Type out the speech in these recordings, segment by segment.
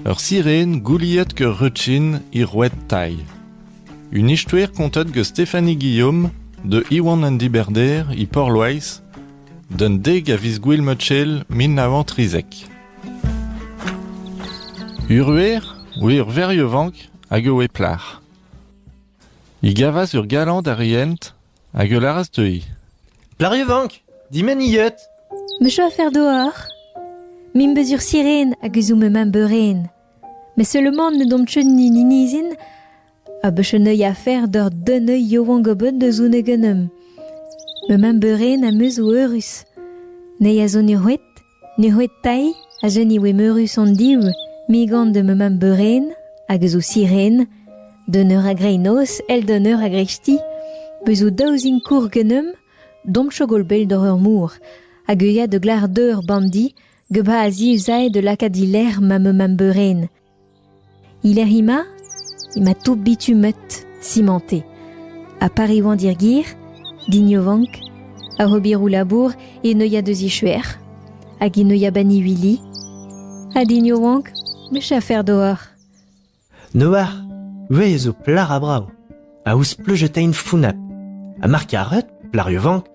Ur sirene gouliet gant ruchin he roued tailh. Un istoer kontet gant Stéphanie Guillaume da Iwan an Diberder e Porloeiz d'un dek a viz gouel Motchel mil nav c'hant trizek. Ur wer oa ur verriovank hag a oe plac'h. He gavas ur galant a rient Hag a lâras dezhi Plarivonk, dimeniet Me zo afer doar. Me 'm beus ur siren hag ez omp emañ beuren. Met seulement ne domp ket ni ninizin ha beus un œil afer doc'h d'un œil yaouank ober deus un ganeomp. Me emañ beuren am eus o eurus. Ne ya zo ne roet Ne c'hoed paeñ a zeu ne oe meurus an-div migant ma mamm beurenn hag a zo siren, d'un eur a grein-noz èl d'un eur a greizti, bez' zo daou zin kour ganeomp domcho gol-bell doc'h ur mor hag a ya da glar deur bandi gant va a zilzae da lakaat e-lec'h ma ma mamm beurenn. E-lec'h ema ema toub bitu meut simantet ha pare e oant er gêr din o vank ar oberoù labour e neuiañ deus he chuer hag e neuiañ 'ba ni wili ha din o vank mech afer d'ober. Neuar, vez zo plac'h a brav, a ouzh pleujetein founat, ha mark a reut plac'h o vank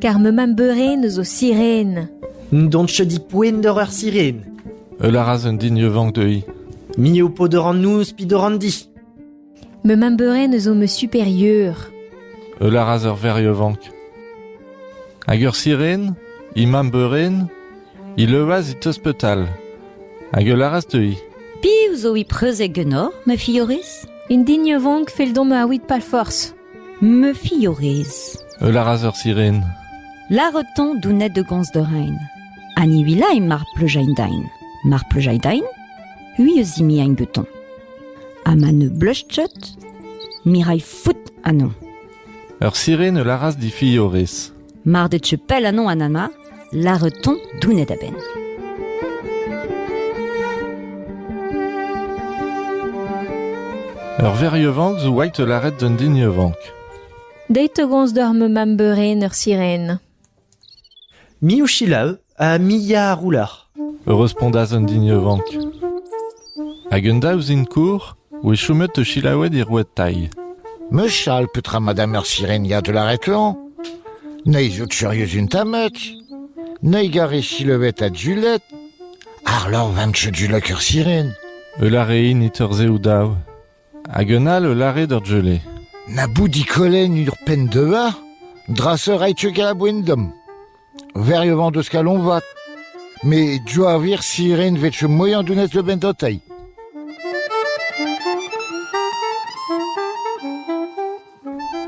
Kar ma mamm beure eus o siren. N'on chodik poent d'or ar siren. Eul araz un din vank deuil. Mi eo po dor an nouz pi dor an di. Ma mamm beure eus o me superieur. Eul araz ur verrio vank. Hag ur siren, i mamm beuren, i leuaz i teus petal. Hag eul araz deuil. Pi zo i preuzeg genor, ma fiorez? Un digne vank fel dom a awit pal forz. Me fio rez. E lâras ur siren. Lâret-on donet da gomz da rein. Ha ni vilai mar pleujaindain. Mar pleujaindain, hui eus imiain getoñ. Ha ma ne bleustchet, mirai fout anon. Ur siren e lâras di fio rez. Mar ded cho pell anv an ama, lâret toñ douned a-benn. Ur verrieuvank zo aet lâret d'un digneuvank. Deit a gomz doc'h ma mamm beure en ur siren. Me o selaou Ha Mia ar Rouleur. E respondas an dignovank. Hag un daou zen kour oe chomet o selaouet e roued tailh. Mechal petra madame ar Sirenia de la Réclan Neiz out furius un tamet Nei gare silevet a Julet Ar lor ventche du le cœur sirène E la rein it ur zeu dav. Hag un all o lâret ur jeule. Na boudikolenn ur penn-deuañ, dra-seurt a teu kelaouenn deomp. Verioù deus kalon vat. Met div a vir siren vet chom moaien d'honnez le benn doteiz.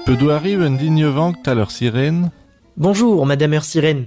Peu doa arriv un dignovank tal ur siren Bonjour, madame ur sirène.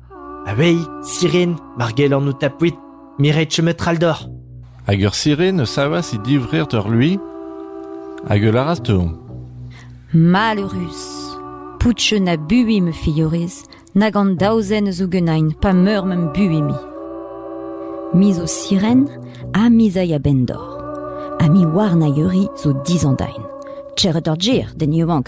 Avei, Sirén, mar gellan out tapout, miret chom tra d'oc'h. Hag ur sirén a savas he divrec'h d'ur lui hag a lâras dezhañ Malheurus. Poutcheu na buhi ma filhorez nag an daouzek a zougenain pa meur m'am buhi-mi. Me zo Sirén ha me zay a-benn-dor. Ha me warn a-euri zo dizañ dain. Tchet ur gir den yaouank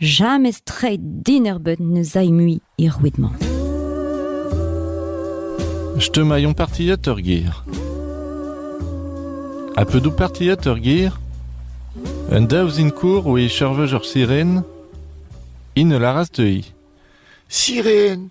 James treiñ den erbet n'eus aet mui er roued-mañ. Stummailhon partiet ur gêr. Ha pedoù partiet ur gêr? Un daou zinkour oe e servij ur siren. Int a laras dezhi. Siren,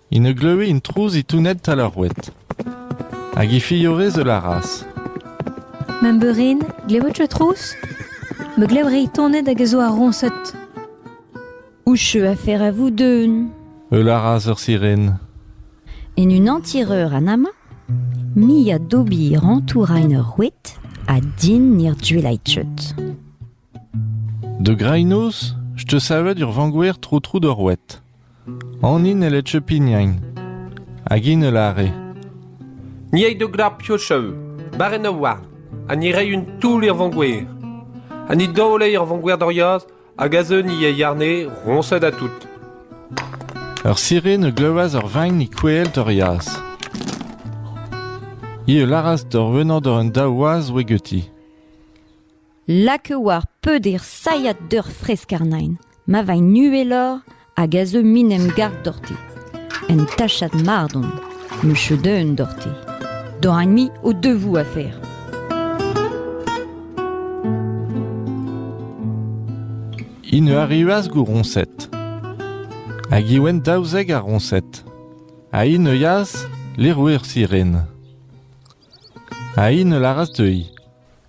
int a gleue int trouz e-tounet tal ar roued. Hag he filhorez a lâras. Ma beurin, glevot ho trouz ? Ma glev reiñ tonet hag a zo ar roñsed. Oucheu afer a vous deun a lâras ur siren. En unan tireur an ama, mi a dobi rantourain ur roued ha din nir duelait cheut. Da greñnoz 'c'h savet ur vangwer tro-tro d'ur oued. Ani n'hellet cheu pignain. Hag hi ne lâre. Ni eo da glapio cheu, barrenn a oar, ha ni rei un toull er vangwer. Ha ni daolei ur vangwer d'ar yaz, hag a zeu ni e yarne roñset ha tout. Ur sirén a gleuas ur vagn e kouel d'ur yaz. Hi a lâras d'ur wenañ d'ur un daou wazh oa ganti. Lakaout war peuder sailhad deur fresk àrnain ma vaint uheloc'h hag a zeu m'en em garg doc'hte. Un tachad mard on, me cheu deun doc'hte. Doani o devoù afer. Int arriuas gou roñset. Hag Iwen daouzek a roñset. Ha int euias lerouer siren. Ha int laras deuiñ.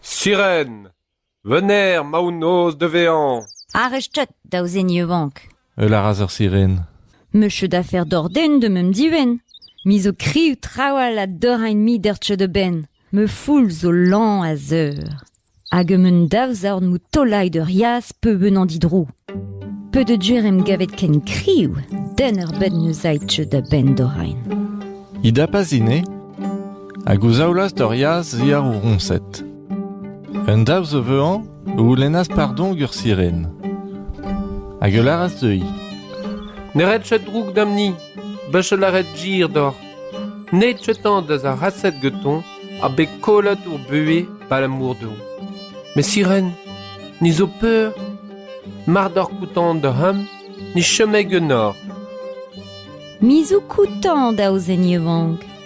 Siren ! venner maounoz da vezañ ! Arrest ket daou zen yaouank ! E lâras ar siren. Monsieur d'afer Dorden da meump divenn. Me zo kriv trawalc'h a dorrain-mi derchet a-benn. Ma foull zo lañv a zeur. Hag em un daou-zaorn out taolait ur yaz peubenañ didro. Peu de dur em gavet ken kriv, den erbet ne zait da benn dorain. He dapas ine hag o zaolas d'ur yaz ziàr o roñsed. Un dav zo veuañ a c'houlennas pardon gant ur siren, hag a lâras dezhi. Ne ret chet droug damp-ni, beche lâret gir deoc'h. Ned chetañ deus ar rased getoñ ha bet kollet o buhez abalamour dezho. Met siren, ni zo peur, mar doc'h koutañ da hum, ni chome ganeoc'h. Me zo koutañ da aozenniñ vank.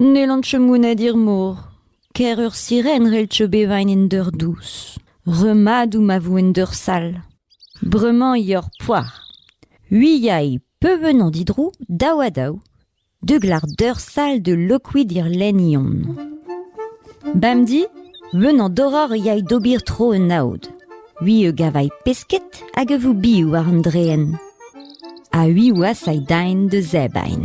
N'hellan chom gounid er mor. Ker ur siren 'c'hellcho bevain en deur dous. Rummadoù ma vo en deur sall. Bremañ eo ar poar. Uilhai pevennañ didro daou ha daou. De glar deur sall de lokwit er lennion. Bemdez, venañ doroc'h e yay d'ober tro un aod. Ui e gavay pesked hag a vo biv war an dreen. Ha ui oa saïdain da zebain.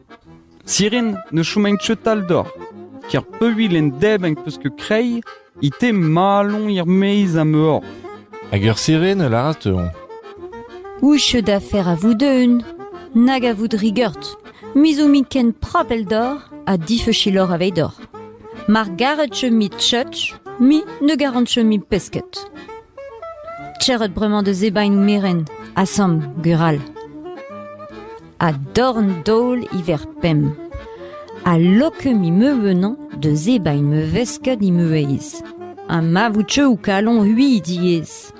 Siren, ne chomaint ket all-dor, ker peurwir en debrent 'peus ket kreiz, it eo mallon er-maez ha meurv. Hag ur siren a lâra-teuñ. Ouchet afer a vout eun, nag a vout rigort, me zoumit ken propel dor ha difeuchilor aveit dor. Mar garet chemit chutch, me ne garant chemit pesket. Tcherret bremañ da zebain ou meren, asam, gural. ha dorn-daol iver pemp. Ha lokeump immeubenañ da zebailh ma vesked immeuez. Ha ma vo tcheu kalon c'hwi diaes.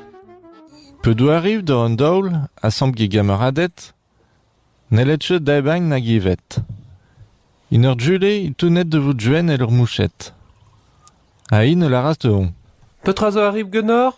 Pe deu arriv da an daol, asambl e gamaraded? N'hellet cheu daebagn nag evet. En ur jule, tounnet da vout juen el ur mouched. Ha hin a laras da hoñ. Petra zo arriv ganeoc'h ?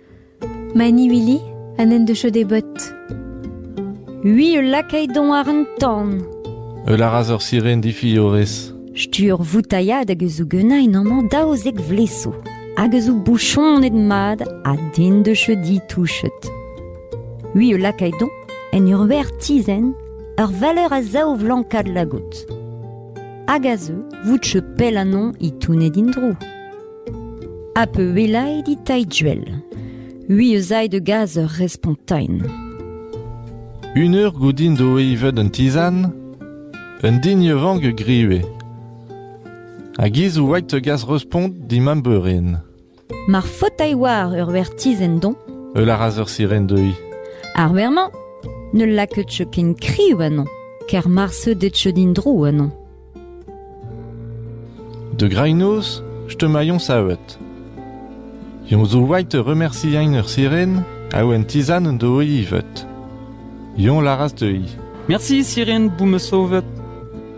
Ma ni Wili a nen deus cheu d'e bot. Ui ul lakait don àr an tan. E laras ur siren difi ovezh. Stur voutailhad hag eus ougenain amañ daouzek vlez zo, hag eus bouchonet mat ha den deus cheu ditouchet. Ui ul lakait don en ur vertizenn ur valeur a zaou vlankad lagot. Hag a zeu vout cheu pell anon i toune din dro. Ha pa welae dit Teizuel, c'hwi ez ae da gas ur respontailh. Une eur goude en doe evet un tizhan, un din e vank grive. Hag ez oa te gas respont d'in ma beuren. Mar faotae war ur wer tizhen don? E laras ur siren deuiñ. Ar wer-mañ ne laka ket ken kriv anon, ker marse det din dro anon. De grainoz stumailhon savet. Yon zo white remerciein ur sirène a oen tizan an do ivet. Yon laras deu'i. Merci sirène bou me sovet.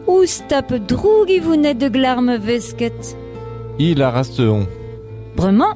Ouz tap droug ivouned de glarme vesket. I laras deu'on. Bremañ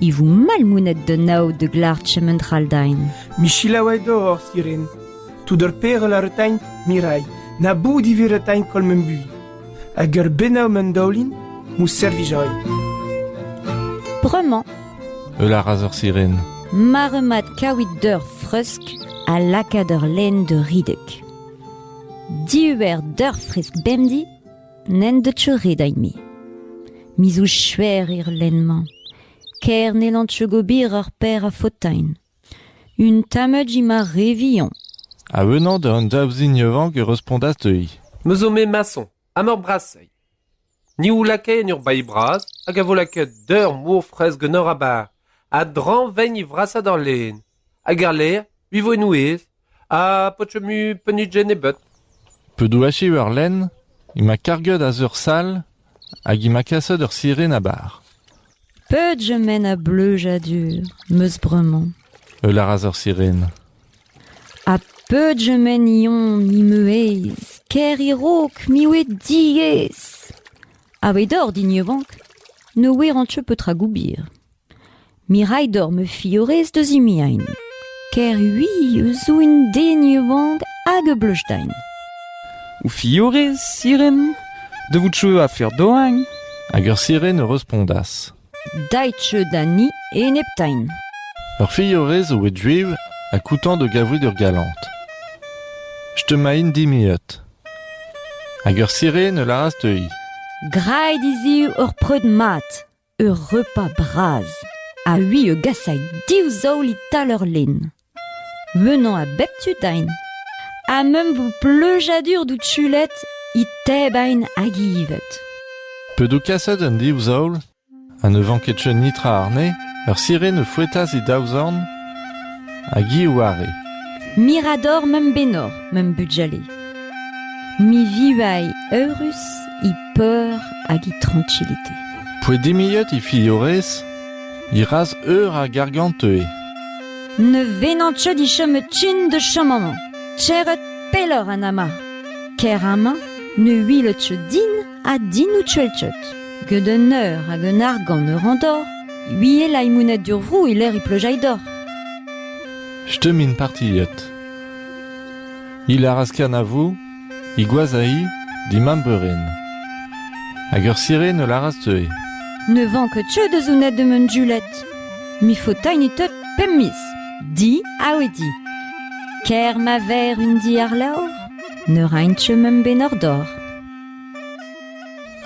e vo mall-monet d'anaout da glar chementr-aldain. Mi selaouait oc'h hor siren. Tout ur perl a retain, Mirai, na boud ivez retain koll mem buhez. Hag ur bennav m'en daolin, m'ou servijai. Bremañ. Eul a raz ur siren. Mar mat kaouit d'ur fresk ha lakaat ur lenn d'ur ridek. Diuber d'ur fresk bemdi N'en deus ket ret eo-me. Me zo schwer er lenn-mañ. Ker n'hellan ket ober ar per a faotain. Un tammig emañ re vihan. Ha unan da an daou zignevant e respondas dezhi. Me zo me mason, ha meur braseuil. Ni eo lakaet en ur bailh bras hag a vo lakaet deur mor fraezh ganeoc'h abar. A-dreñv vein e vrasañ d'al lien. Hag àr-lerc'h Bivoenn-Ouez ha Potchomu Peunic'h nebeut. P'o doa echu ur lenn eo ma karget a-zeur sal hag eo ma kaset ur siren a-bar. Peurgemenn a bleujadur 'm eus bremañ. E lâras ur siren. Ha peurgemenn Ion Imeuez, ker e-raok m'eo digez. A-wed-hor din yaouank ne weran-tu petra goubir. Miray doc'h ma fiorez da Zimiagn. Ker-wir zo un den yaouank hag a bleuch dain. O fiorez, Siren, da vout cheu afer doagn. Hag ur siren a respondas. Dait cheu da ni e neptain. Ur fiorez a oa juiv ha koutant da gavout ur galant. Ch'temaint dimeet. Hag ur siren a lâras dezhi. Graet hiziv ur preud mat. Ur reupad bras a ui a gasay div zaol e-tal ur lenn. Meunañ a bep tu dain ha membo pleujadur dout chulet e tebain hag ivet. Peudoù kaset en div zaol ha ne vank ket cheu nitra àrne, ur sirén a fouetas e daou zorn hag hi a oare. Mirador mem benor, mem bugale. Mi vivaay eurus e peur hag he tranchilite. Poedimiet he filhorez, he raz eur a garganteu. Ne venan teu di chom tun de chom amañ. Tcheret pelloc'h an ama. Ker amañ ne wilet teu din ha din ou tcheul-tcheut. Ged un eur hag un argant eur andor, wie la imounet dur vrou e ler i plojai dor. Stum in partiet. Il a raz kernavou He gwazhailh dimp beure-n. Hag ur sirene a lâras dezhe. Ne van ket teu da zonet da man Juliet. Me faut tailh tout pemp miz. Di a oe di. Ker ma ver un di ar laor, ne raint teu mem ben ar dor.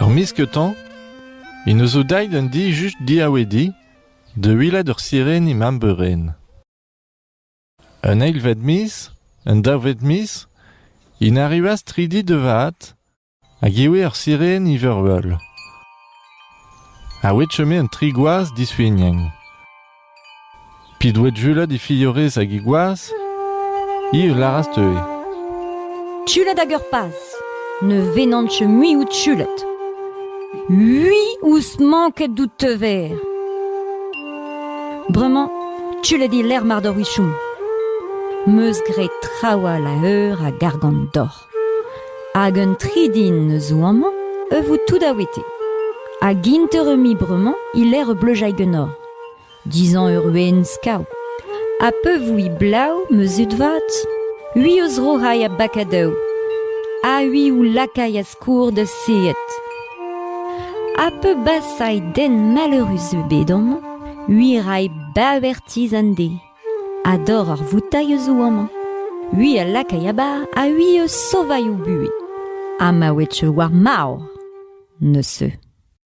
Ur miz ketañ, en eus out daet un di just di a oe di, da wilat ur sirene imam beure-n. Un eilvet miz, un devvet miz, int arrivas tri di da vat, hag e oe ar sirene iveau-heul. A oe chome an tri gwaz disuignen. P'he doe julet he filhorez hag he gwaz, hi a lâras teue. Chulet hag ur paz. Ne venantche mui out chulet. Mui ouzh manket out teuver. Bremañ, tulet eo lec'h mard-a-wechoù. 'm eus graet trawal a-eur a gargan doc'h. Hag un tri din zo amañ e vo tout awete. Hag int eur-me bremañ e-lec'h ur bleujailh ganeoc'h. Dizhañ ur wen skav. Ha pa voui blav, 'm eus tud vat. Ui o zroc'hai a baka daou. Ha ui o lakay az Kourdaseet. Ha pa basay den malheurus ebet amañ, wir-ay bavertiz an de. Ha dor ar voutailh a zo amañ. Ui a lakay abar ha ui a sovay o buhez. Ha ma wech war marv, ne zeu.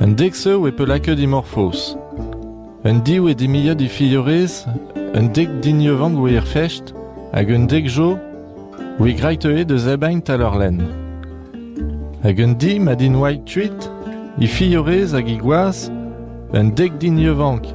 Un deksev e peu lakaet he morfoz. Un div eo dimiad he filhorez, un dek dignevant eo er fest, hag un dek jo eo graet eus ebeint tal ur lenn. Hag un di ma din oaet tuit, he filhorez hag he gwaz, un dek dignevant